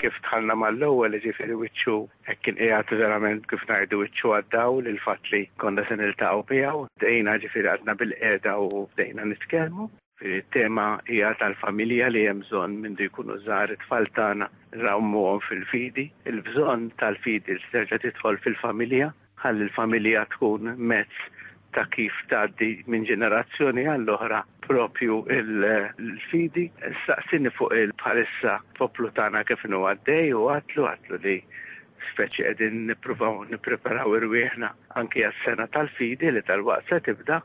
kif tħallna mal-ewwel ġifieri wiċċu hekk kien qiegħed verament kif ngħidu wiċċu għaddaw lil fatt li konna se niltaqgħu miegħu. Dejna ġifieri għadna bil-qiegħda u bdejna nitkellmu. It-tema hija tal-familja li hemm bżonn mindu jkunu żgħar it-tfal tagħna nrawmuhom fil-fidi, il-bżonn tal-fidi li terġa' tidħol fil-familja ħalli l-familja tkun mezz ta' kif tgħaddi minn ġenerazzjoni għall-oħra propju l-fidi. Staqsini fuq il-bħalissa poplu tagħna kif inhu għaddej u għatlu għatlu li speċi qegħdin nippruvaw nippreparaw irwieħna anki għas-sena tal-fidi li tal-waqt se tibda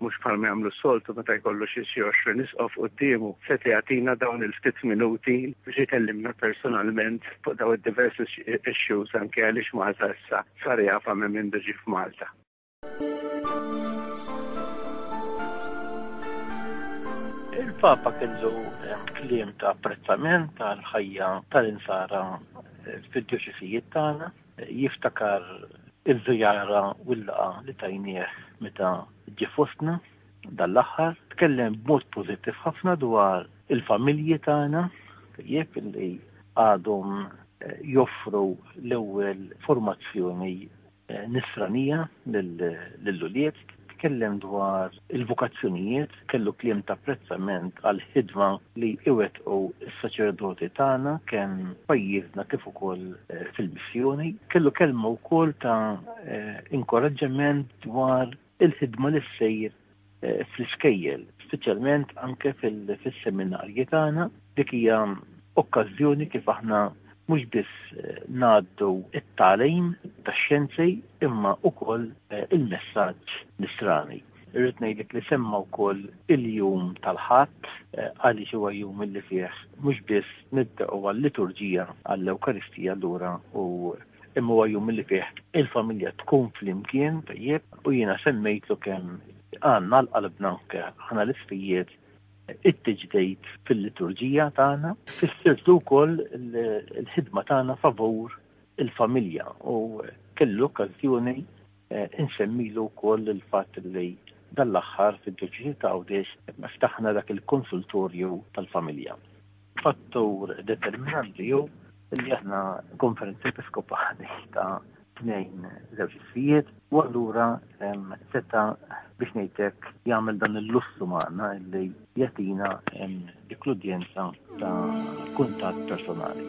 mhux bħalma jagħmlu s-soltu meta jkollu xi xi 20 isqof quddiemu, seta' jagħtina dawn il-ftit minuti biex ikellimna personalment fuq daw id-diversi issues anke għaliex Malta issa sar jafa minn min ġi f'Malta. Il-Papa kellu eh, kliem ta' apprezzament tal-ħajja tal-insara eh, fid-dioċisijiet tagħna Jiftakar iż-żjara u l-laqgħa li tajnieh meta ġie fostna dan l-aħħar, tkellem b'mod pożittiv ħafna dwar il-familji tagħna, tajjeb li għadhom eh, joffru l-ewwel formazzjoni eh, nisranija lill-ulied, tkellem dwar il-vokazzjonijiet kellu kliem ta' apprezzament għall-ħidma li iwettqu s-saċerdoti tagħna kemm pajjiżna kif ukoll eh, fil-missjoni. Kellu kelma wkoll ta' eh, inkoraġġament dwar il-ħidma li ssejr eh, fl-iskejjel, speċjalment anke fis-seminarji tagħna Dik hija okkażjoni kif aħna mhux biss ngħaddu t-tagħlim tax-xjenzi imma wkoll il-messaġġ nisrani. Irrid ngħidlek li semma wkoll il-jum tal-Ħadd għaliex huwa jum illi fih mhux biss nibda'u għal-liturġija għall-Ewkaristija allura u imma huwa jum illi fih il-familja tkun flimkien tajjeb u jiena semmejtlu kemm għandna għal qalbna anke aħna l-isfijiet It-tiġdid fil-liturġija tagħna fissirtu wkoll il-ħidma tagħna favur il-familja u kellu okkażjoni eh, insemmilu wkoll il-fatt li dal-aħħar fid-deċiżi ta' Għawdex ftaħna dak il-konsultorju tal-familja. Fattur determinanti ju li aħna konferenzi episkopali ta' tnejn żewġ issijiet u allura seta biex ngħidlek jagħmel dan il-lussu magħna li jatina l-kludjenza ta' kuntatt personali.